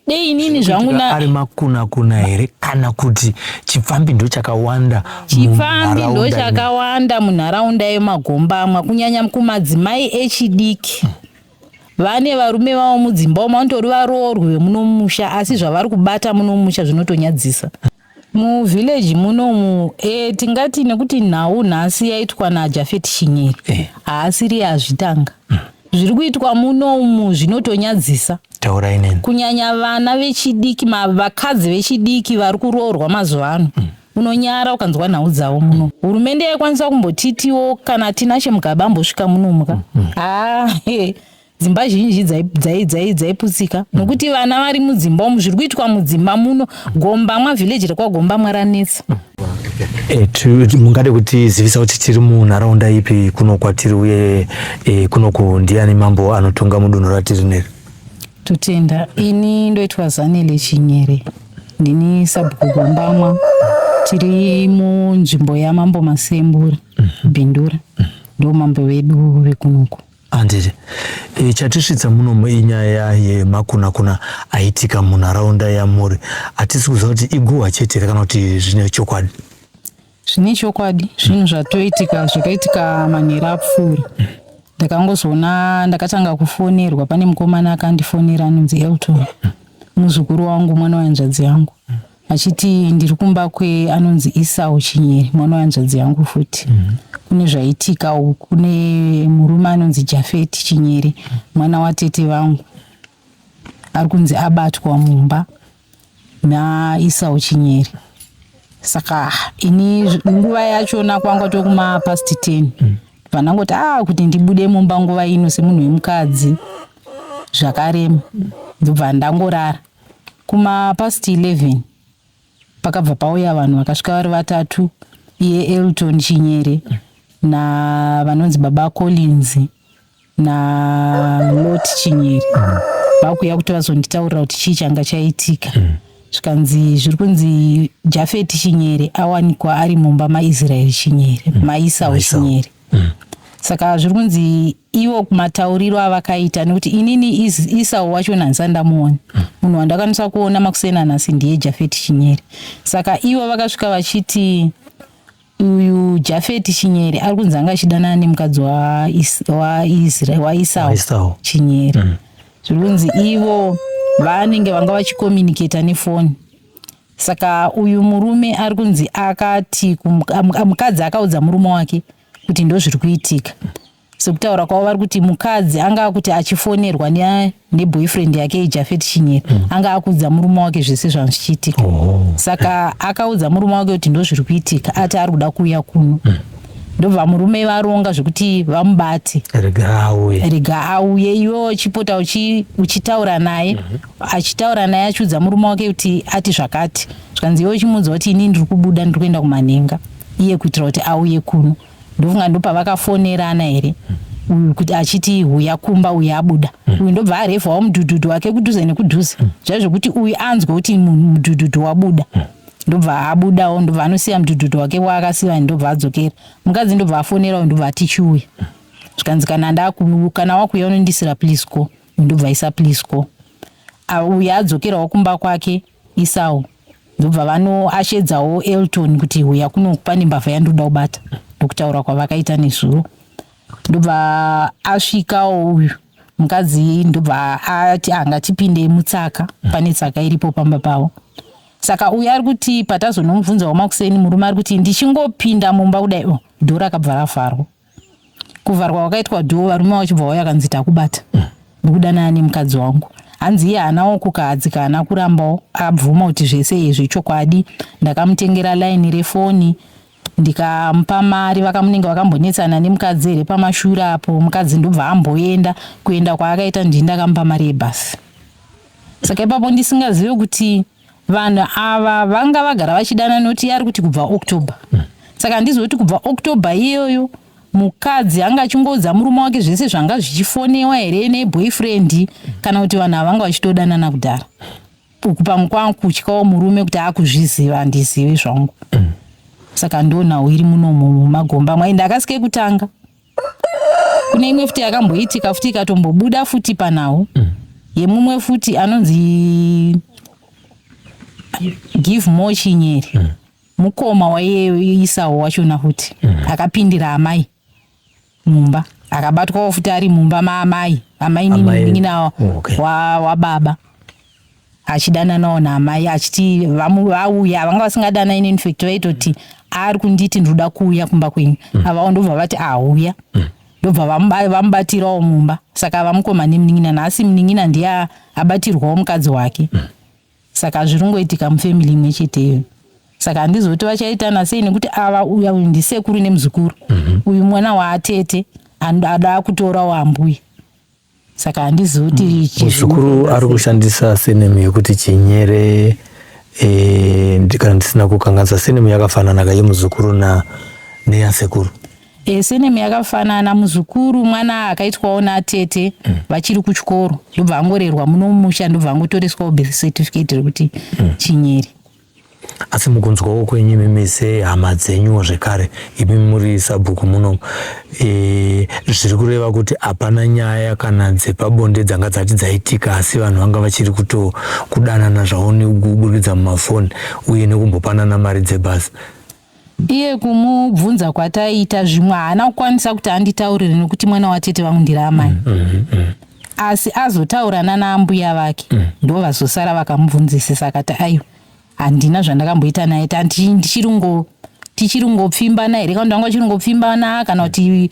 dei inini zvangu na ari makuna kuna here kana kuti chipfambi ndo chakawanda chipfambi ndo chakawanda munharaunda yemagombamwa kunyanya kumadzimai echidiki hmm. vane varume vavo mudzimba umo vanotori varoorwi vemunomusha asi zvavari kubata munomusha zvinotonyadzisa hmm. Mu village munomu eh, tingati nekuti nhau nhasi yaitwa na Jafet Shinyeri eh. haasiri azvitanga mm. zviri kuitwa munomu zvinotonyadzisa taurai neni kunyanya vana vechidiki vakadzi vechidiki vari kuroorwa mazuva ano mm. unonyara ukanzwa nhau dzavo muno mm. hurumende yaikwanisa kumbotitiwo kana tina chemugaba ambosvika munomuka mm. mm. ah, hey. dzimba zhinji dzaiputsika mm. nokuti vana vari mudzimba umu zviri kuitwa mudzimba muno gombamwa vhileji rekwagombamwa ranetsa mm. Eh, mungade kutizivisa kuti tiri munharaunda ipi kuno kwatiri uye eh, kunoku ndiani mambo anotonga mudunhu ratiri neri totenda ini ndoitwa zanele chinyere ndini sabhuku gombamwa tiri munzvimbo yamambo masembura mhm. bhindura mhm. ndomambo vedu vekunoku Handiti e, chatisvitsa munomu inyaya yemakunakuna aitika munharaunda yamuri. Hatisi kuziva kuti iguhwa chete here kana kuti zvine chokwadi? Zvine chokwadi, zvinhu zvatoitika zvakaitika manheru apfuura. Ndakangozoona ndakatanga kufonerwa, pane mukomana akandifonera anonzi Elton, muzukuru wangu, mwana wehanzvadzi yangu. achiti ndiri kumba kwe anonzi Isau Chinyere mwana wehanzvadzi yangu futi mm -hmm. kune zvaitika uku kune murume anonzi Jafeti Chinyere mwana watete vangu ari kunzi abatwa mumba naIsau Chinyere saka ini nguva yachona kwanga tokuma past 10 mm. vanangoti ah kuti ndibude mumba nguva ino semunhu wemukadzi zvakarema ndobva ndangorara Kuma past 11 pakabva pauya vanhu vakasvika vari vatatu iye Elton Chinyere na vanonzi baba Collins na Lot Chinyere vakuya kuti vazonditaurira kuti chii changa chaitika zvikanzi zviri kunzi Jafet Chinyere awanikwa ari mumba maIsrael Chinyere maIsau Chinyere saka zviri kunzi ivo matauriro avakaita nekuti inini isau wacho nhandisa ndamuona munhu wandakwanisa kuona makuseni anhasi ndiye jafeti chinyeri saka ivo vakasvika vachiti uyu jafeti chinyeri ari kunzi anga achidanana nemukadzi waisau chinyeri mm. zviri kunzi ivo vanenge vanga vachikomuniketa nefoni saka uyu murume ari kunzi akati mukadzi akaudza murume wake mm. kuti ndozviri kuitika sekutaura kwavo vari kuti mukadzi anga akuti achifonerwa neboyfriend yake ijafet chinyera mm. anga akuudza murume wake zvese zvanga zvichiitika oh. saka akaudza murume wake kuti ndozviri kuitika ati ari kuda kuuya kuno mm ndobva murume varonga zvekuti vamubate rega auye iwe uchipota uchitaura naye mhm. achitaura naye achiudza murume wake kuti ati zvakati zvikanzi iwe uchimuudza kuti ini ndiri kubuda ndiri kuenda kumanhenga iye kuitira kuti auye kuno ndofunga ndopavakafonerana here uyu kuti achiti huya kumba uyu abuda mm. uyu ndobva arevhawo mudhudhudhu wake kudhuze nekudhuze mm. zvaizvo kuti uyu anzwe kuti mudhudhudhu wabuda mm. ndobva abudawo ndobva anosiya mudhudhudhu wake waakasiya ndobva adzokera mukadzi ndobva afonera uyu ndobva atichiuya zvikanzi kana ndaku kana wakuuya unondisira plisco ndobva isa plisco uyu adzokerawo kumba kwake Isau ndobva vanoashedzawo Elton kuti huya kuno pane mbavha yandoda kubata ndokutaura kwavakaita nezuro ndobva asvikawo uyu mukadzi ndobva ati anga tipinde mutsaka pane tsaka iripo pamba pavo saka uyu ari kuti patazonomubvunzawo makuseni murume ari kuti ndichingopinda mumba kudai o oh, dhora akabva ravharwa kuvharwa kwakaitwa dhoo varume vachibva vauya akanzi takubata ndikudanana nemukadzi wangu hanzi iye haana wokukadzi kaana kurambawo abvuma kuti zvese izvi chokwadi ndakamutengera laini refoni ndikamupa mari vakamunenge vakambonetsana nemukadzi here pamashura apo mukadzi ndobva amboenda kuenda kwaakaita ndini ndakamupa mari yebhasi saka ipapo ndisingazive kuti Vanhu ava vanga vagara vachidana noti yari kuti kubva October. Mm. Saka handizivi kuti kubva October iyoyo mukadzi anga achingoudza murume wake zvese zvanga zvichifonewa here neboyfriend kana kuti vanhu avanga vachitodanana kudhara uku pamwe kwanga kutyawo murume kuti akuzviziva handizivi zvangu saka ndonhau iri munomo mumagomba mwai ndakasike kutanga kune imwe futi yakamboitika futi ikatombobuda futi panhau mm. yemumwe futi anonzi give more chinyeri mm. mukoma waiisawo wachona futi mm. akapindira amai mumba akabatwawo futi ari mumba maamai amai nini oh, wababa achidananawo naamai achiti vauya vanga vasingadana ini infact vaitoti ari kunditi ndinoda kuuya kumba kwenyu mm. avawo ndobva vati auya mm. ndobva vamubatirawo mumba saka vamukoma nemunin'ina nhasi munin'ina ndiye abatirwawo mukadzi wake mm. saka zviri kungoitika mufamily imwe cheteyo saka handizoti vachaitana sei nekuti ava uya uyu ndisekuru nemuzukuru mhm. uyu mwana waatete anoda kutorawo ambuya saka handizivi kuti mm. muzukuru ari kushandisa senemu yekuti chinyere e, kana ndisina kukanganisa senemu yakafanana ka yemuzukuru na neyasekuru e, eh, senemu yakafanana muzukuru mwana akaitwawo natete mm. vachiri kuchikoro ndobva angorerwa muno mumusha ndobva angotoreswawo birth certificate rekuti mm. chinyere asi mukunzwawo kwenyu imi mise hama dzenyuwo zvekare imi muri sabhuku muno e, zviri kureva kuti hapana nyaya kana dzepabonde dzanga dzati dzaitika asi vanhu vanga vachiri kuto kudanana zvavo nekuburikidza mumafoni uye nekumbopanana mari dzebhasi Iye kumubvunza kwataiita zvimwe haana kukwanisa kuti anditaurire nekuti mwana watete vangu ndiri amai. Mm, mm, mm. Asi azotaura nana ambuya vake mm. ndo vazosara vakamubvunzisisa akati aiwa handina zvandakamboita naye tati ndichiri ngo tichiri ngopfimbana here kana ndanga chiri ngopfimbana kana kuti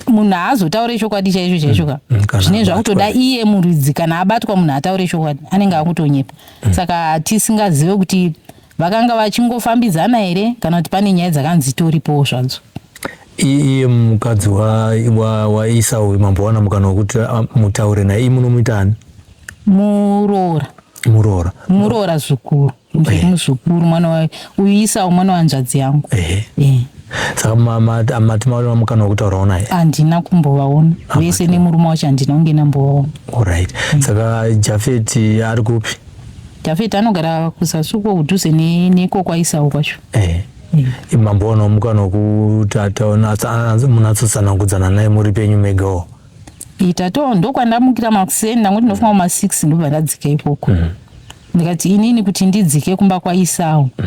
munhu haazotaure chokwadi chaicho chaicho ka mm, mm, zvine zvakutoda iye muridzi kana abatwa munhu ataure chokwadi anenge akutonyepa mm. saka tisingazive kuti Vakanga vachingofambidzana here kana kuti pane nyaya dzakanzi dzitoripowo zvadzo? iye mukadzi waisau wa, mambo wana mukana wekuti ah, mutaure naye iyi munomuita ani muroora muroora muroora zvikuru eh. muzukuru mwana wayo uyu isau mwana wanzvadzi yangu eh. Eh. saka mati maona mukana wekutaurawo naye handina kumbovaona ah, vese nemurume wacho handina kunge nambovaona orit mm. saka jafeti ari kupi Jafeti anogara kuzasi uko kudhuze neko kwaIsau kwacho. Eh. Mm. Mambo anomuka nokuti munhu atsatsanangudzana naye muri penyu megawo. Itato ndokwandamukira makuseni ndangu ndinofunga kuma six ndobva ndadzika ikoko. Mm. Ndikati inini kuti ndidzike kumba kwaIsau. Mm.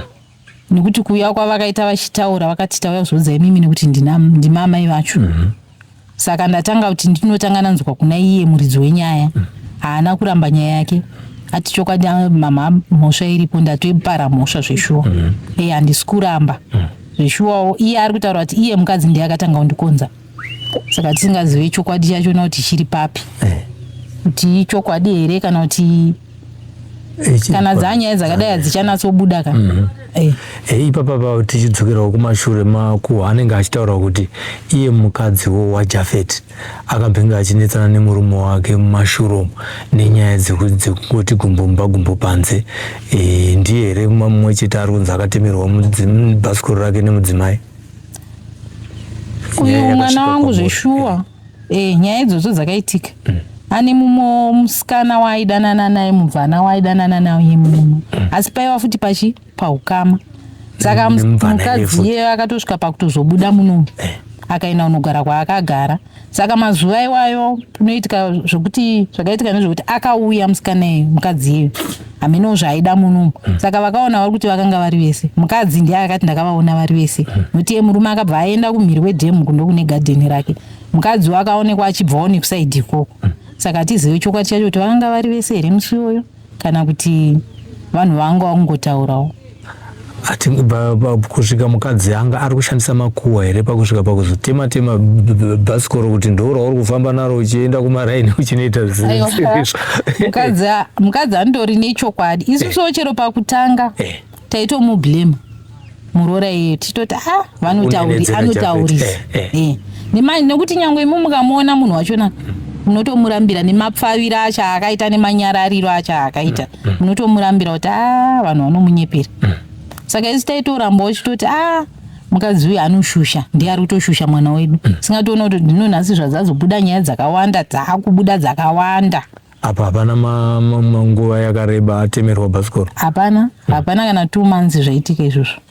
nekuti kuuya kwavakaita vachitaura vakati tauya kuzoudza imimi nekuti ndimamai vacho mm -hmm. saka ndatanga kuti ndinotanga nanzwa kuna iye muridzi wenyaya mm. haana mm. kuramba nyaya yake ati chokwadi ah, mama mhosva iripo ndatoipara mhosva zveshuwa mm. e handisi kuramba mm. zveshuwawo iye ari kutaura kuti iye mukadzi ndiye akatanga kundikonza saka tisingazive chokwadi chacho na kuti chiri papi eh. kuti ichokwadi here kana kuti eh, kana dzanyaya dzakadai hadzichanatsobuda ka mhm. eh. ipapa pa tichidzokerawo kumashure makuha anenge achitaura kuti iye mukadziwo wajafet akambenge achinetsana nemurume wake mumashuromu nenyaya dzekungoti gumbomba gumbo panze ndiye here mumwe chete ari kunzi akatemerwa bhasikoro rake nemudzimai uyu mwana wangu zveshuwa eh, nyaya idzodzo dzakaitika mm. ane mumwe musikana waaidanana naye mubvana waaidanana naye muno mm. asi paiva futi pachi paukama saka mm, mukadzi iyeyo akatosvika pakutozobuda muno eh. akaenda kunogara kwaakagara saka mazuva iwayo unoitika zvokuti zvakaitika nezvokuti akauya musikanei mukadzi iye hamenowo zvaaida munumu hmm. saka vakaona vari kuti vakanga vari vese mukadzi ndiye akati ndakavaona vari vese hmm. nokuti ye murume akabva aenda kumhiri wedhemu kundo kune gadheni rake mukadzi wakaonekwa achibvawo nekusaidhi ikoko hmm. saka hatizive chokwadi chacho kuti vakanga vari vese here musi iyoyo kana kuti vanhu vanga vakungotaurawo ati kusvika mukadzi anga ari kushandisa makuwa here pakusvika pakuzotema tema bhasikoro kuti ndourauri kufamba naro uchienda kumaraini uchinoita mukadzi andori nechokwadi isusuwo eh. chero pakutanga eh. taitomublema muroora iye tichitoti a ah, vanotauri anotauri eh, eh. eh. nemanje nekuti nyangwe imi mukamuona munhu wachona munotomurambira nemapfavira acho akaita nemanyarariro acho akaita mm, mm. munotomurambira kuti a ah, vanhu vanomunyepera mm. saka isi taitoramba wachitoti a ah, mukadzi uyu anoshusha ndiye ari kutoshusha mwana wedu singatoona kuti ndinonhasi zvazazobuda nyaya dzakawanda dzaakubuda dzakawanda apa hapana nguva yakareba atemerwa bhasikoro hapana hapana kana two months zvaitika izvozvo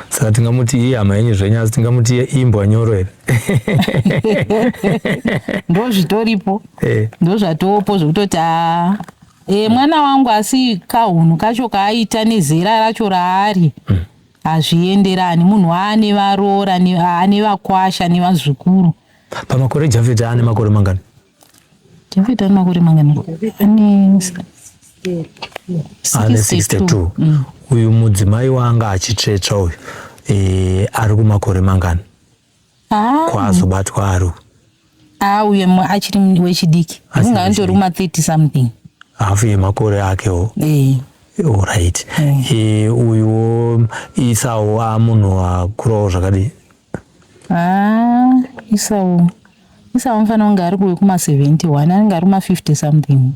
saka tingamuti iye hama yenyu zvenyu asi tingamuti iye imbwa nyoro here ndo zvitoripo eh. ndo zvatoopo zvekutoti a e, mwana wangu asi kahunhu kacho kaaita nezera racho raari hmm. hazvienderani munhu aane varoora ane vakwasha nevazukuru pamakore jafeti aane makore mangani David ane makore mangani? Ane 62. Mm. Uyu mudzimai waanga achitsvetsva uyu e, ari kumakore mangani ah. kwaazobatwa ari uyu? Ah, uye achiri wechidiki unga anditori kuma 30 something hafu yemakore akewo e. Alright. E. E, uyu isawo amunhu akurawo zvakadii? Haa isawo isawo mfana unge ari kuwe kuma 71 anenge ari kuma 50 something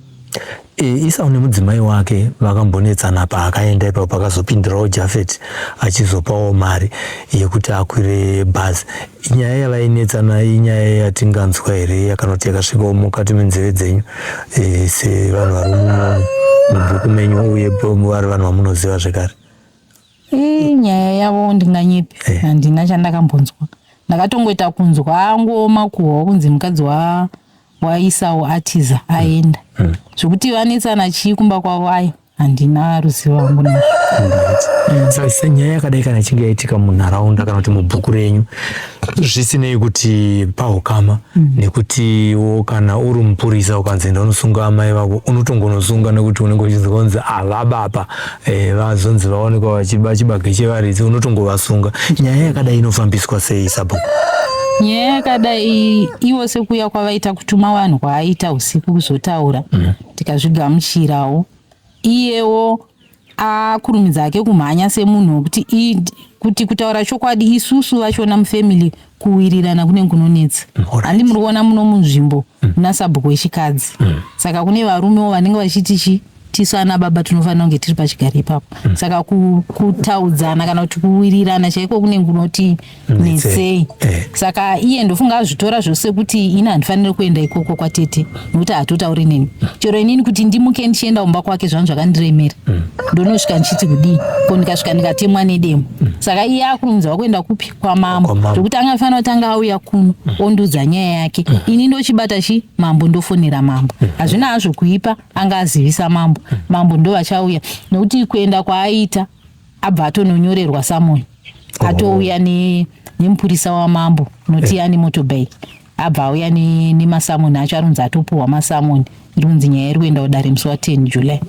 e, isawo nemudzimai wake vakambonetsana paakaenda ipapo pakazopindirawo jafet achizopawo mari yekuti akwire bhazi inyaya yavainetsana inyaya yatinganzwa here yakanoti yakasvikawo mukati menzeve dzenyu e, sevanhu vari mubhuku menyu uye vari vanhu vamunoziva zvekare Ii, nyaya yavo ndinganyepi Eh. handina chandakambonzwa ndakatongoita kunzwa angooma kuhwa kunzi mukadzi wa waisawo atiza aenda Mm. zvekuti vanetsana chii kumba kwavo ayi handina ruzivo hangu nazvo Sa- senyaya yakadai kana ichinge yaitika munharaunda kana kuti mubhuku renyu zvisinei kuti pahukama mm. nekutiwo kana uri mupurisa ukanzi enda unosunga amai vako unotongonosunga nekuti unenge uchinzonzi avabapa e, eh, vazonzi vaonekwa vachiba chibage chevaridzi unotongovasunga nyaya yakadai inofambiswa sei sabhuku nyaya yakadai iwo sekuya kwavaita kutuma vanhu kwaaita usiku kuzotaura mm. tikazvigamuchirawo iyewo akurumidza hake kumhanya semunhu wekuti id kuti kutaura chokwadi isusu vachona mufamily kuwirirana kune kunonetsa handi muri kuona muno munzvimbo mm. muna sabhuku wechikadzi mm. saka kune varumewo vanenge vachiti chi tisu ana baba tinofanira kunge tiri pachigari ipapo mm. saka kutaudzana kana kuti kuwirirana chaiko kune kunoti netsei eh. saka iye ndofunga azvitora zvose kuti ini handifanire kuenda ikoko kwatete nokuti hatotauri neni chero inini kuti ndimuke ndichienda kumba kwake zvanhu zvakandiremera mm. ndonosvika ndichiti kudii ko ndikasvika ndikatemwa nedemo mm. saka iye akurunzwa kuenda kupi kwamambo zvokuti anga afanira kuti anga auya kuno mm. ondiudza nyaya yake ini ndochibata chi mambo ndofonera mambo hazvina hazvo kuipa anga azivisa mambo mambo ndovachauya nokuti kuenda kwaaiita abva atononyorerwa samoni oh. atouya ne, nemupurisa wamambo noti yani eh. motobay abva auya nemasamoni ne acho arinzi atopuhwa masamoni rinzi nyaya iri kuenda kudare musi wa 10 july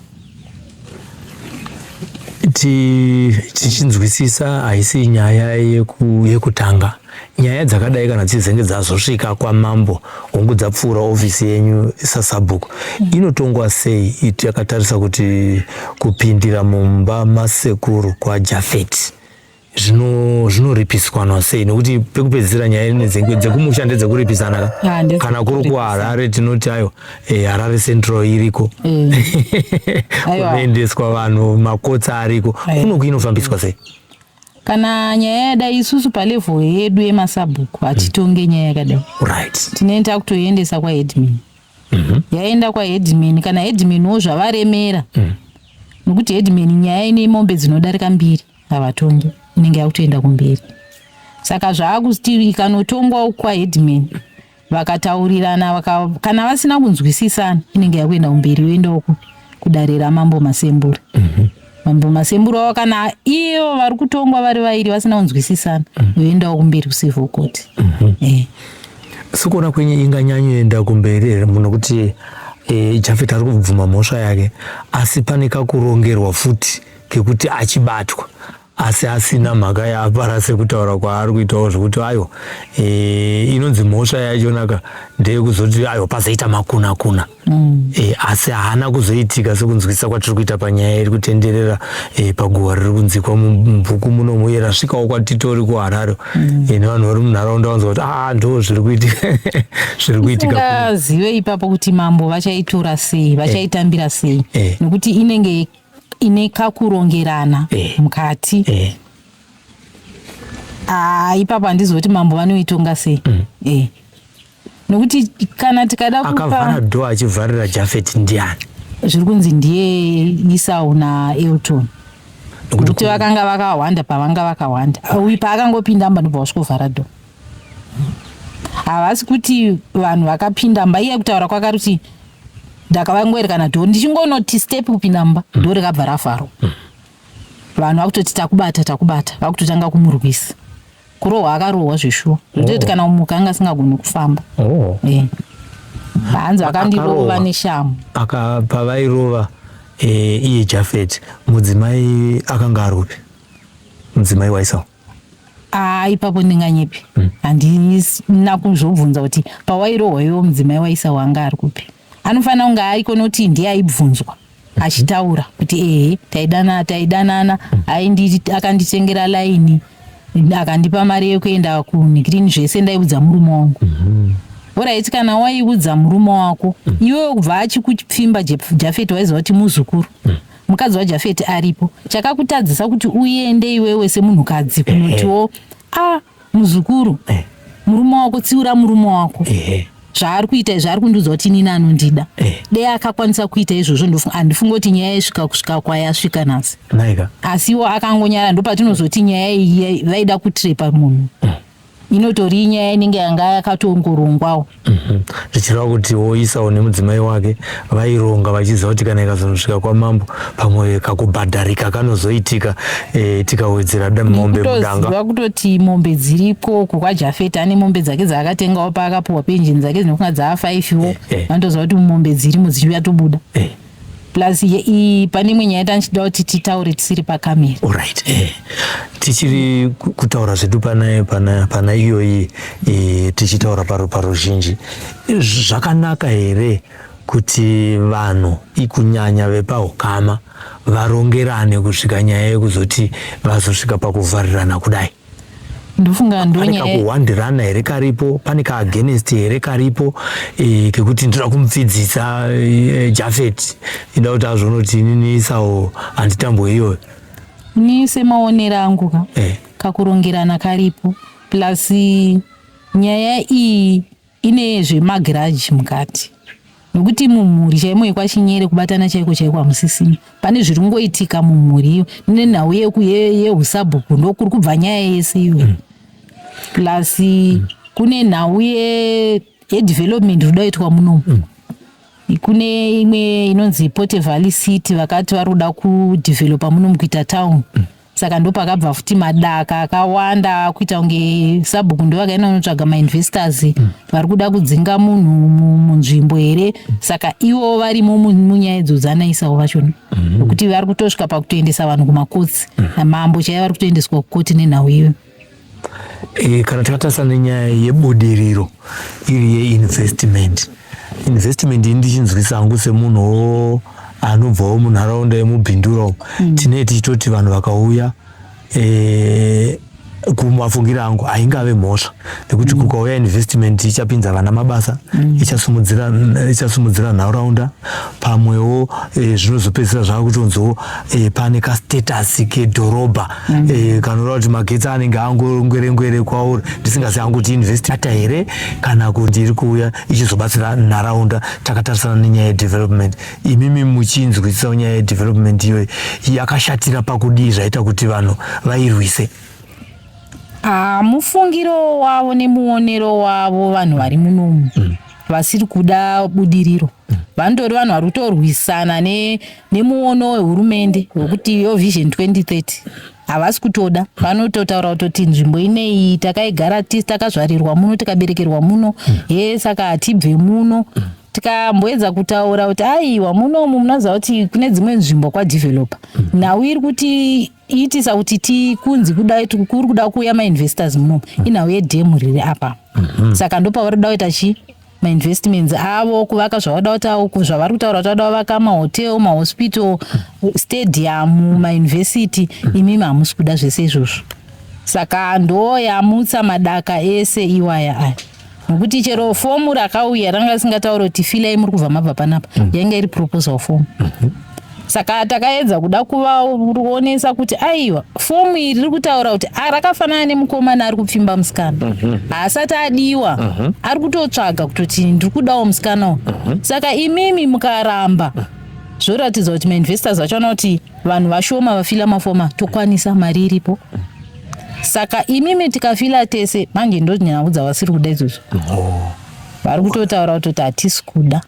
tichinzwisisa haisi nyaya yekutanga Nyaya dzakadai kana dzizenge dzazosvika kwamambo hongu dzapfuura ofisi yenyu sasabhuku mm. inotongwa sei iti yakatarisa kuti kupindira mumba masekuru kwajafeti zvinoripiswanwa sei nekuti pekupedzisira nyaya inedzenge dzekumusha ndedzekuripisana kana kuri kuharare tinoti ayo eh, harare central iriko mm. kunoendeswa vanhu makotsa ariko kunoku inofambiswa sei kana nyaya yadai isusu palevel yedu yemasabhuku hmm. hatitonge nyaya yakadai right. tinoenda kutoiendesa kwaheadmin mm -hmm. yaenda kwaheadmin kana headmin wo zvavaremera mm. nokuti headmin nyaya ine mombe dzinodarika mbiri havatongi inenge yakutoenda kumberi saka zvaakuti ikanotongwa kwaheadmin vakataurirana vaka, kana vasina kunzwisisana inenge yakuenda kumberi yoenda uku kudare ramambo masembura mm -hmm. mambo masembura wavo kana iyo vari kutongwa vari vairi vasina kunzwisisana mm -hmm. yoendawo kumberi kucivil court mm -hmm. eh. sikuona kwenye inganyanyoenda kumberi here muno kuti eh, jafet ari kubvuma mhosva yake asi pane kakurongerwa futi kekuti achibatwa asi asina mhaka yaapara sekutaura kwaari kuitawo zvekuti ayo e, inonzi mhosva yachonaka ndeyekuzoti ayo pazoita makuna kuna mm. e, asi haana kuzoitika sekunzwisisa kwatiri kuita panyaya iri kutenderera e, paguhwa riri kunzikwa mubhuku muno muye rasvikawo kwatitori kuharare mm. e, nevanhu vari munharaunda vanzwa kuti aa ah, ndo zviri kuitika zviri kuitikazive ipapo kuti mambo vachaitora sei vachaitambira sei e. nekuti inenge ine kakurongerana eh. mukati eh. Ah, ipapo handizoti mambo vanoitonga sei mm. eh. nokuti kana tikada akavhara dho achivharira jafet ndiani zviri kunzi ndiye isau naelton nokuti vakanga vakahwanda pavanga vakahwanda uyu paakangopinda mba ndobva vasvikovhara dho havasi kuti vanhu vakapinda mba iye kutaura kwakaruti ndakavangwerekana dhoo ndichingonoti step kupinda mumba mm. dhoo rekabva rafaro mm. vanhu vakutoti takubata takubata vakutotanga kumurwisa kurohwa akarohwa zveshuwa ndoti oh. kana kumuka anga asingagoni kufamba oh. eh. hanzi vakandirova neshamu pavairova eh, iye jafet mudzimai akanga arupi mudzimai waisao aa ipapo ndinganyepi hmm. handina kuzvobvunza kuti pawairohwa iwo mudzimai waisa wanga ari kupi anofanira kunge aiko noti ndiye aibvunzwa hmm. achitaura kuti ehe taidanana taidanana hmm. akanditengera laini akandipa mari yekuenda kunigrini zvese ndaiudza murume wangu oraiti kana waiudza murume wako iwewe kubva achikupfimba jafeti waiziva kuti muzukuru mukadzi wajafeti aripo chakakutadzisa kuti uende iwewe semunhukadzi kunotiwo a muzukuru eh. murume wako tsiura murume wako eh. zvaari kuita izvi ari kundiudza kuti inini anondida eh. dei akakwanisa kuita izvozvo handifunge kuti nyaya yasvika kusvika kwayasvika nhasi asi iwo akangonyara ndopatinozoti nyaya iyi vaida kutrepa munhu mm. inotori inyaya inenge yanga yakatongorongwawo mhm. zvichireva kuti woisawo nemudzimai wake vaironga vachiziva kuti kana ikazonosvika kwamambo pamwe kakubhadharika kanozoitika e, tikawedzera mombe mudangaziva kutoti mombe dziriko uku kwajafeta ane mombe dzake dzaakatengawo paakapuhwa penjini dzake dzinofunga dzaafaifhiwo eh, eh. vanotoziva kuti mombe dzirimo dzichiuya tobuda plus ye, i, pane imwe nyaya tandichida kuti titaure tisiri pakamera alright eh. tichiri kutaura zvedu pana, pana, pana iyoyi eh, tichitaura paro paruzhinji zvakanaka here kuti vanhu ikunyanya vepaukama varongerane kusvika nyaya yekuzoti vazosvika pakuvharirana kudai ndofunga ndonyaya pane kakuhwandirana here karipo pane kaagainst here karipo e, kekuti ndoda kumupfidzisa e, jafet ida kuti azvonoti inini isawo handitambo iyoyo ni semaonero angu ka e. kakurongerana karipo plus nyaya iyi ine zvemagiraji mukati nokuti mumhuri chaimo yekwachinyere kubatana chaiko chaiko hamusisina pane zviri kungoitika mumhuri iyo nenhau yeku ye- yeusabhuku ndokuri kubva nyaya yese iyo mm. plus mm. kune nhau ye- yedevelopment iri kudaitwa munomu mm kune imwe inonzi pote valley city vakati vari kuda kudevelopa munomu kuita town mm. saka ndopakabva futi madaka akawanda akuita kunge sabhuku ndovakaenda unotsvaga mainvestors mm. vari kuda kudzinga munhu munzvimbo here mm. saka ivo varimo munyaya idzo dzanaisawo vachona mm-hmm. nokuti vari kutosvika pakutoendesa vanhu kumakotsi mm. namambo chaiye vari kutoendeswa kukoti nenhau iyoyo E, kana takatarisa nenyaya yebudiriro iri yeinvestment investment ini ndichinzwisa hangu semunhu anobvawo munharaunda yemubhindura umu mm. tinee tichitoti vanhu vakauya e, kumafungiro angu haingave mhosva nekuti mm. kukauya investment ichapinza vana mabasa mm. ichasumudzira nharaunda pamwewo e, zvinozopedzisira zvava kutonzoo e, pane kastatus kedhorobha mm -hmm. e, eh, kanoreva kuti magetsi anenge angongwerengwere kwauri ndisingazi hangu kuti investata here kana kuti iri kuuya ichizobatsira nharaunda takatarisana nenyaya yedevelopment imimi muchinzwisisawo nyaya yedevelopment iyoyi yakashatira pakudii zvaita kuti vanhu vairwise ah, mufungiro wavo nemuonero wavo vanhu vari munomu mm. vasiri kuda budiriro vanotori vanhu vari kutorwisana nemuono wehurumende wekuti yo vision 2030 havasi kutoda vanototaura kutoti nzvimbo ineyi takaigara tisi takazvarirwa muno tikaberekerwa muno he saka hatibve muno tikamboedza kutaura kuti aiwa munomu munoziva kuti kune dzimwe nzvimbo kwadevelopa nhau iri kuti itisa kuti tikunzi kudai kuri kuda kuuya mainvestors munomu inhau yedhemu riri apa mhm. saka ndopavari kuda kuita chii mainvestments avo kuvaka zvavada kuti zvavari kutaura kuti vada vavaka mahotel mahospital stadium mauniversity imimi hamusi kuda zvese izvozvo saka ndoyamutsa madaka ese iwaya aya nokuti chero fomu rakauya ranga risingataura kuti filai muri kubva mabva panapa mm. yanga iri proposal fomu mm -hmm. saka takaedza kuda kuvaonesa kuti aiwa fomu iri riri kutaura kuti ah, rakafanana nemukomana ari kupfimba musikana mhm. haasati adiwa mhm. ari kutotsvaga kutoti ndiri kudawo musikana uyu mhm. saka imimi mukaramba zvoratidza kuti mainvestors vacho vanoti vanhu vashoma vafila mafoma tokwanisa mari iripo saka imimi tikafila tese manje ndonyanaku dzavasiri kuda izvozvo oh. vari kutotaura kutoti hatisi kuda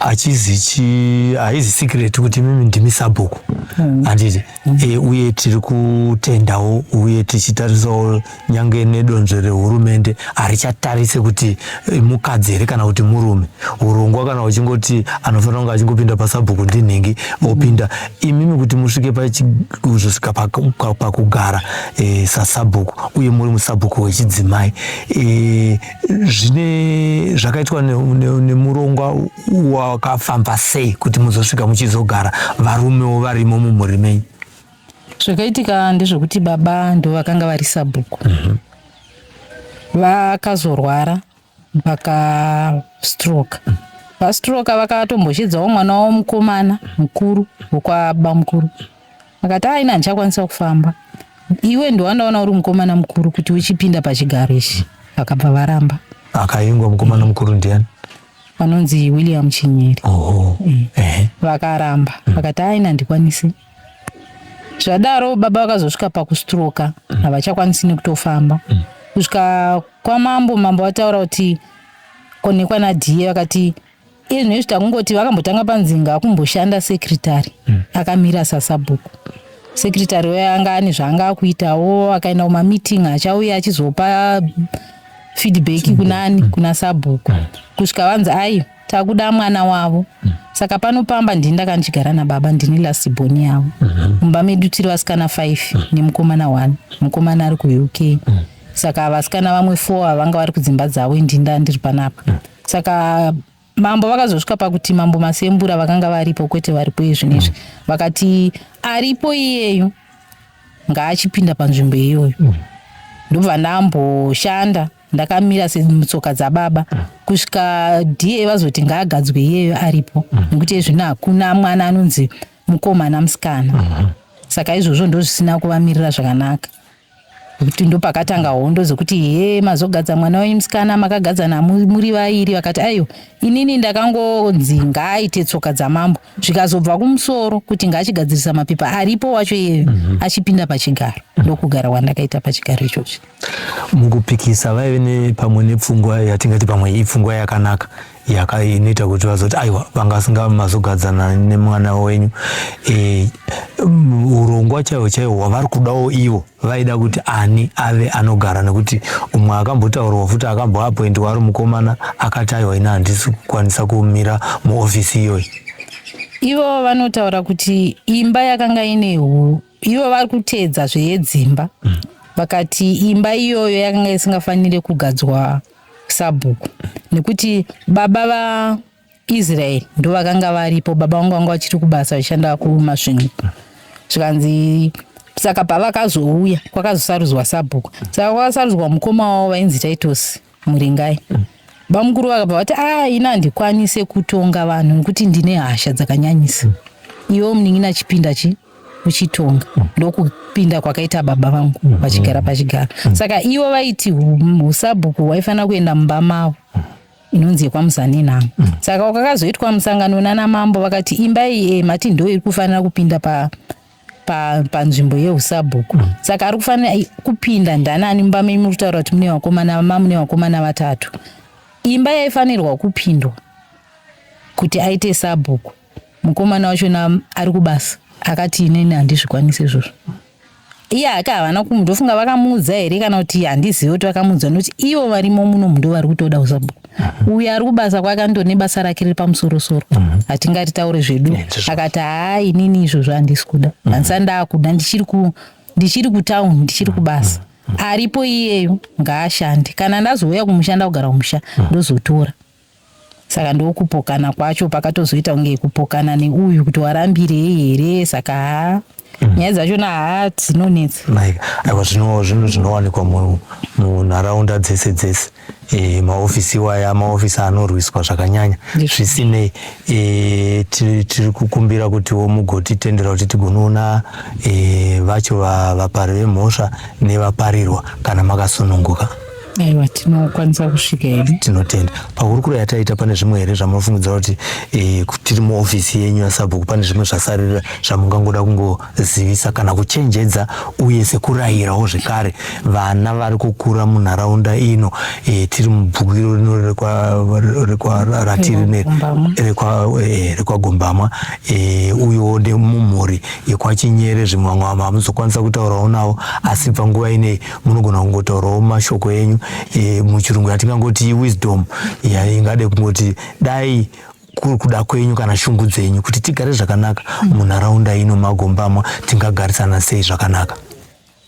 achizi chi haizi secret kuti mimi ndimi sabhuku mm. handiti mm. e, uye tiri kutendawo uye tichitarisawo nyange nedonzvo rehurumende harichatarise kuti eh, mukadzi here kana kuti murume urongwa kana uchingoti anofanira kunge achingopinda pasabhuku ndinhingi mm. opinda mm. imimi kuti musvike pachizosvika pakugara e, sasabhuku uye muri musabhuku wechidzimai e, zvine zvakaitwa nemurongwa wakafamba sei kuti muzosvika muchizogara varumewo varimo mumhuri menyu zvakaitika ndezvekuti baba ndo vakanga vari sabhuku mhm. vakazorwara vakastroke mhm. vastroke vakatombozhidzawo mwana wavo mukomana mukuru wekwaba mukuru Akati ah, ini handichakwanisa kufamba. Iwe ndowandaona uri mukomana mukuru kuti uchipinda pachigaro ichi. Vakabva varamba. Akaingwa mukomana mukuru ndiani? Vanonzi William Chinyeri. Oho. Mm. Eh. Vakaramba. Mm. Vakati ah, ini handikwanisi. Zvadaro baba vakazosvika pakustroka. Mm. Havachakwanisi nekutofamba. Mm. Kusvika kwamambo mambo vataura kuti konekwa nadhiye vakati iye zvinezvi takungoti vakambotanga panzinga akumboshanda secretary mm. akamira sasabhuku secretary waye anga ane zvaanga akuitawo akaenda kumameeting achauya achizopa feedback mm. kunani mm. kuna sabhuku mm. kusvika vanzi ayo takuda mwana wavo mm. saka pano pamba ndini ndakandigara nababa ndini lasiboni yavo mm-hmm. mumba mm -hmm. medu tiri vasikana five mm. nemukomana one mukomana ari kuuk mm. saka vasikana vamwe four ava vanga vari kudzimba dzavo indi nda ndiri panapa mm. saka mambo vakazosvika pakuti mambo masembura vakanga varipo kwete varipo iye zvinhu izvi mm. vakati aripo iyeyu ngaachipinda panzvimbo iyoyo mm. ndobva ndamboshanda ndakamira semutsoka dzababa mm. kusvika da vazoti ngaagadzwe iyeyo aripo mm. nekuti mm. ezvino hakuna mwana anonzi mukomana musikana mm -hmm. saka izvozvo ndozvisina kuvamirira zvakanaka kuti ndopakatanga hondo zokuti he mazogadza mwana wenyu musikana makagadzana muri vairi vakati aiwa inini ndakangonzi ngaaite tsoka dzamambo zvikazobva kumusoro kuti ngaachigadzirisa mapepa aripo wacho iyeyo mm -hmm. achipinda pachigaro ndokugara wandakaita pachigaro ichochi mukupikisa vaive nepamwe nepfungwa yatingati pamwe ipfungwa yakanaka yaka inoita kuti vazoti aiwa vanga vasinga mazogadzana nemwana wenyu e, urongwa chaiwo chaiwo hwavari kudawo ivo vaida kuti ani ave anogara nekuti umwe akambotaurwa futi akamboapointiwa ari mukomana akati aiwa ini handisi kukwanisa kumira muofisi iyoyo ivo vanotaura kuti imba yakanga ine hu ivo vari kuteedza zveyedzimba mm. vakati imba iyoyo yakanga isingafanire kugadzwa sabhuku nekuti baba va Israel ndo vakanga varipo baba vangu vanga vachiri kubasa vachishanda kumasvingo zvikanzi saka pavakazouya kwakazosarudzwa sabhuku saka kwakasarudzwa mukoma wavo vainzi Titus Muringai bamukuru vakabva vati ah ini handikwanise kutonga vanhu nekuti ndine hasha dzakanyanyisa iwo munin'ina chipinda chi kuchitonga ndokupinda kwakaita baba vangu mhm. vachigara pachigara mhm. saka ivo vaiti usabhuku waifanira kuenda mumba mavo inonzi yekwamuzani nhamo mhm. saka wakakazoitwa musangano nana mambo vakati imba iyi eh, mati ndo iri kufanira kupinda pa panzvimbo yeusabhuku saka ari kufanira eh, kupinda ndanani mumba menyu muri kutaura kuti mune vakomana mamune vakomana vatatu imba yaifanirwa kupindwa kuti aite sabhuku mukomana wachona ari kubasa akati inini handizvikwanise izvozvo iye ake havana kumu ndofunga vakamuudza here kana kuti handizive kuti vakamuudza nokuti ivo varimo muno mundo vari kutoda kuzabu mhm. uyo ari kubasa kwake ando nebasa rake riri pamusorosoro mhm. hatingati taure zvedu akati haa inini izvozvo handisi kuda mhm. handisa ndaakuda ndichiri kutown ndichiri kubasa aripo iyeyo ngaashande kana ndazouya kumushanda kugara kumusha ndozotora Saka ndokupokana kwacho pakatozoita kunge kupokana neuyu kuti warambirei here saka haa mm. nyaya dzachona haa dzinonetsa like aiwa zvino zvinhu zvinowanikwa munharaunda dzese dzese e, maofisi iwaya maofisi anorwiswa zvakanyanya zvisinei e, tiri kukumbira kutiwo mugotitendera kuti tigonoona e, vacho vapari vemhosva nevaparirwa kana makasununguka aiwa tinokwanisa kusvika hedu tinotenda pahurukuro yataita pane zvimwe here zvamunofungidza kuti e, tiri muofisi yenyu yasabhuku pane zvimwe zvasarira zvamungangoda kungozivisa kana kuchenjedza uye sekurayirawo zvekare vana vari kukura munharaunda ino e, tiri mubhukiro rino rekwaratiri rekwagombama e, uyewo nemumhuri yekwachinyere zvimwe vamwe vamwe vamuzokwanisa kutaurawo navo asi panguva inei munogona kungotaurawo mashoko enyu e, muchirungu yatingangoti wisdom yaingade kungoti dai kuri kuda kwenyu kana shungu dzenyu kuti tigare zvakanaka mm. munharaunda ino magombamwa tingagarisana sei zvakanaka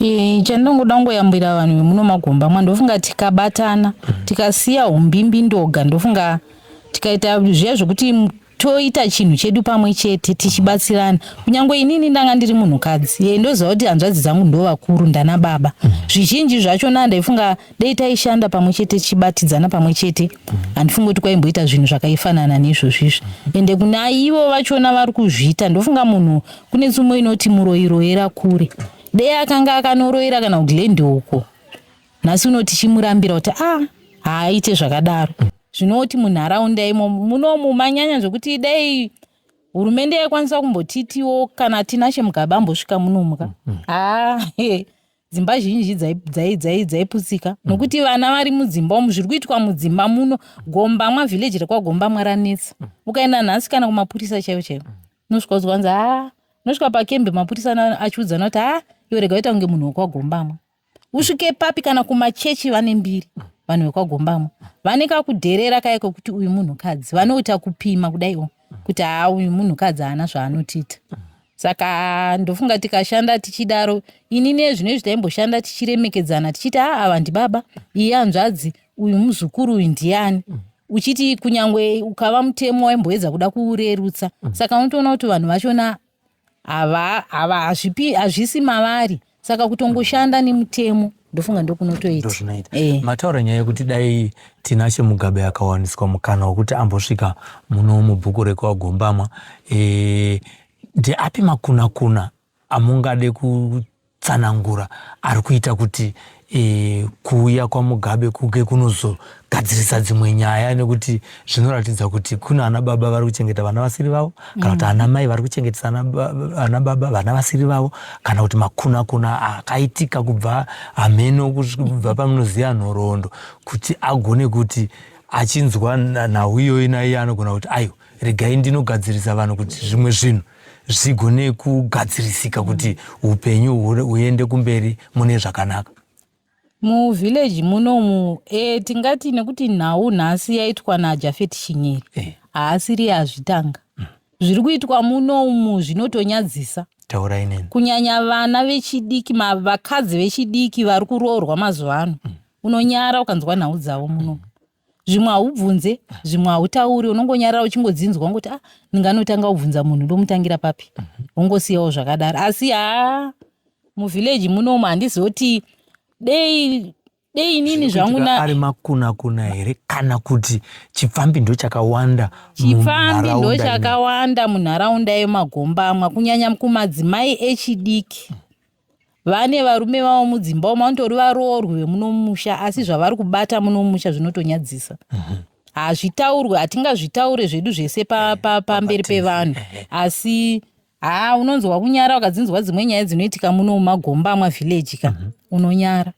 e, chandinongoda kungoyambwira vanhu vemuno magombamwa ndofunga tikabatana mm. tikasiya umbimbi ndoga ndofunga tikaita zviya zvekuti toita chinhu chedu pamwe chete tichibatsirana kunyange inini ndanga ndiri munhukadzi ye ndoziva kuti hanzvadzi dzangu ndo vakuru ndana baba mm. zvizhinji zvacho na ndaifunga dei taishanda pamwe chete tichibatidzana pamwe chete mm. handifungi kuti kwaimboita zvinhu zvakaifanana neizvozvo izvi mm. ende kuna ivo vachona vari kuzviita ndofunga munhu kune tsumo inoti muroiroera kure dei akanga akanoroira kana kuglendi uko nhasi uno tichimurambira kuti a ah, haaite zvakadaro zvinoti munharaunda imo munomu manyanya zvekuti dai hurumende yaikwanisa kumbotitiwo kana tinashe mugaba ambosvika munomuka mm, mm. haa ah, dzimba zhinji dzaiputsika mm. nokuti vana vari mudzimba umu zviri kuitwa mudzimba muno gombamwa vhileji rekwagombamwa ranetsa ukaenda nhasi kana kumapurisa chaivo chaivo unosvika uziwanzi haa unosvika pakembe mapurisa achiudzana kuti haa iwe rega uita kunge munhu wekwagombamwa usvike papi kana kumachechi vane mbiri vanhu vekwagombamwa vane kakudherera kaye kekuti uyu munhukadzi vanoita kupima kudaiwo kuti haa uyu munhukadzi haana zvaanotiita saka ndofunga tikashanda tichidaro ini nezvino izvi taimboshanda tichiremekedzana tichiti haa ava ndibaba iye anzvadzi uyu muzukuru uyu ndiyani uchiti kunyange ukava mutemo waimboedza kuda kuurerutsa saka unotoona kuti vanhu vachona hava hava hazvipi hazvisi mavari saka kutongoshanda nemutemo ndofunga ndokunotoita eh. mataura nyaya yekuti dai tinashe mugabe akawaniswa mukana wekuti ambosvika muno mubhuku rekwagombama eh, ndeapi makunakuna amungade ku tsanangura ari kuita kuti e, kuuya kwamugabe kuge kunozogadzirisa dzimwe nyaya nekuti zvinoratidza kuti kuna ana baba vari kuchengeta vana vasiri vavo kana kuti ana mai vari kuchengetesa ana baba vana vasiri vavo kana kuti makunakuna akaitika kubva hameno kubva pamunoziva nhoroondo kuti agone kuti achinzwa nhau iyoyi naiye anogona kuti aiwa regai ndinogadzirisa vanhu kuti zvimwe zvinhu zvigone kugadzirisika kuti upenyu huende kumberi mune zvakanaka muvhileji munomu e, tingati nekuti nhau nhasi yaitwa najafeti chinyeri eh. haasiri azvitanga mm. zviri kuitwa munomu zvinotonyadzisa taurai neni kunyanya vana vechidiki vakadzi vechidiki vari kuroorwa mazuva ano mm. unonyara ukanzwa nhau dzavo munomu mm. zvimwe haubvunze zvimwe hautauri unongonyarara uchingodzinzwa ungoti ah ndinganotanga kubvunza munhu ndomutangira papi wongosiyawo zvakadaro asi haa muvhillaji munomu handizoti dei dei inini zvangu na ari makuna kuna here kana kuti chipfambi ndo chakawanda chipfambi ndo chakawanda munharaunda yemagombamwa kunyanya kumadzimai echidiki vane varume vavo mudzimba umu vanotori varoorwi vemuno mumusha asi zvavari kubata muno mumusha zvinotonyadzisa mhm. hazvitaurwe hatingazvitaure zvedu zvese eh, pamberi pevanhu eh, eh. asi haa unonzwa kunyara wakadzinzwa dzimwe nyaya dzinoitika muno mumagomba amwa vhileji ka mhm. unonyara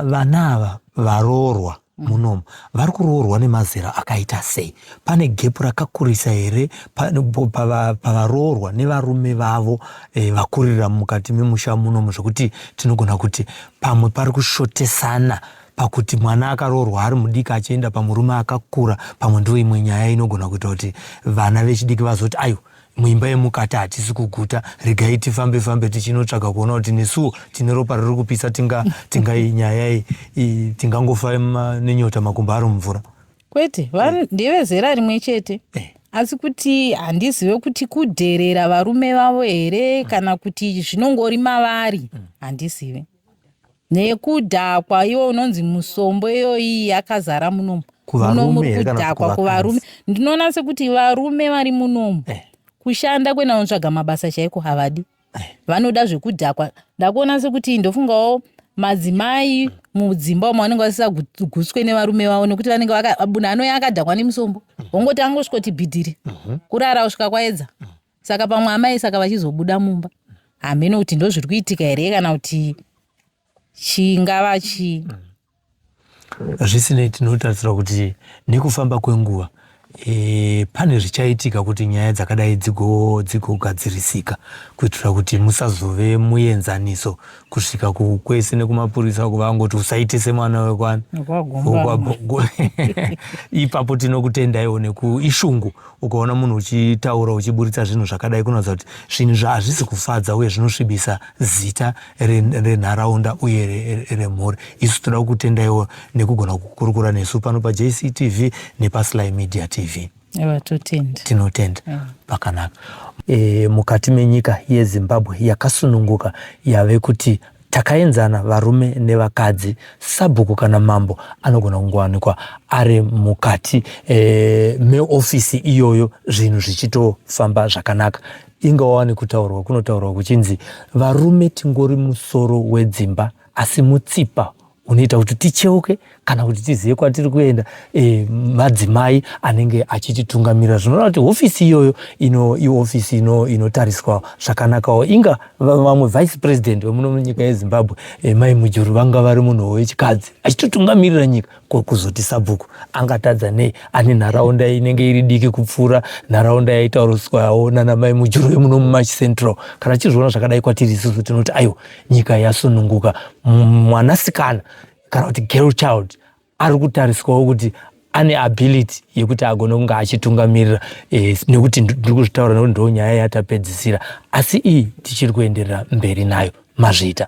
vana ava varoorwa mm. munomu vari kuroorwa nemazera akaita sei pane gepu rakakurisa here pavaroorwa nevarume vavo e, vakurira mukati memusha munomu zvekuti tinogona kuti pamwe pari kushotesana pakuti mwana akaroorwa ari mudiki achienda pamurume akakura pamwe ndiwo imwe nyaya inogona kuita kuti vana vechidiki vazoti aiwa muimba yemukati hatisi kuguta regai tifambe fambe tichinotsvaga kuona kuti nesuwo tine ropa riri kupisa tinga tingai nyaya iyi tingangofa nenyota makumba ari mumvura kwete vanhu eh. ndevezera rimwe chete eh. asi kuti handizive kuti kudherera varume vavo here kana kuti zvinongori mavari hmm. handizive nekudhakwa iwe unonzi musombo iyoyi yakazara munomu munomu ri kudhakwa kuvarume ndinoona sekuti varume vari munomu eh. kushanda kuenda kunotsvaga mabasa chaiko havadi eh. vanoda zvekudhakwa ndakuona sekuti ndofungawo madzimai mudzimba umo vanenge vasisaguswe nevarume vavo nekuti vanenge vakabuna anoya akadhakwa nemusombo wongoti angosvikoti bhidhiri mhm. kurara kusvika kwaedza mhm. saka pamwe amai saka vachizobuda mumba hameno kuti ndozviri kuitika here kana kuti chingava chii zvisinei tinotarisira kuti nekufamba kwenguva e, pane zvichaitika kuti nyaya dzakadai dzigogadzirisika kuitira kuti musazove muenzaniso kusvika kwese nekumapurisa uko vangoti usaitise mwana wekwani ipapo tinokutendaiwo nekuishungu ukaona munhu uchitaura uchiburitsa zvinhu zvakadai kunoratidza kuti zvinhu zvaazvisi kufadza uye zvinosvibisa zita renharaunda uye remhuri isu toda kukutendaiwo nekugona kukurukura nesu pano pajctv nepasly media tv Ewa, totenda. Tinotenda. Yeah. Pakanaka. E, mukati menyika yeZimbabwe yakasununguka yave kuti takaenzana varume nevakadzi sabhuku kana mambo anogona kungowanikwa ari mukati e, meofisi iyoyo zvinhu zvichitofamba zvakanaka inga wawani kutaurwa kunotaurwa kuchinzi varume tingori musoro wedzimba asi mutsipa unoita kuti ticheuke kana kuti tizive kwatiri kuenda e, madzimai anenge achititungamirira zvinoreva kuti hofisi iyoyo ino ihofisi ino inotariswa zvakanakawo inga vamwe vice president vemuno munyika yezimbabwe e, mai mujuru vanga vari munhu wechikadzi achitotungamirira nyika ko kuzoti sabhuku angatadza nei ane nharaunda inenge iri diki kupfuura nharaunda yaitauriswawo nana mai mujuru vemuno mumachi central kana tichizviona zvakadai kwatiri isusu tinoti aiwa nyika yasununguka mwanasikana kana kuti girl child ari kutariswawo kuti ane ability yekuti agone kunge achitungamirira eh, nekuti ndiri kuzvitaura nekuti ndo nyaya yatapedzisira asi iyi tichiri kuenderera mberi nayo mazvita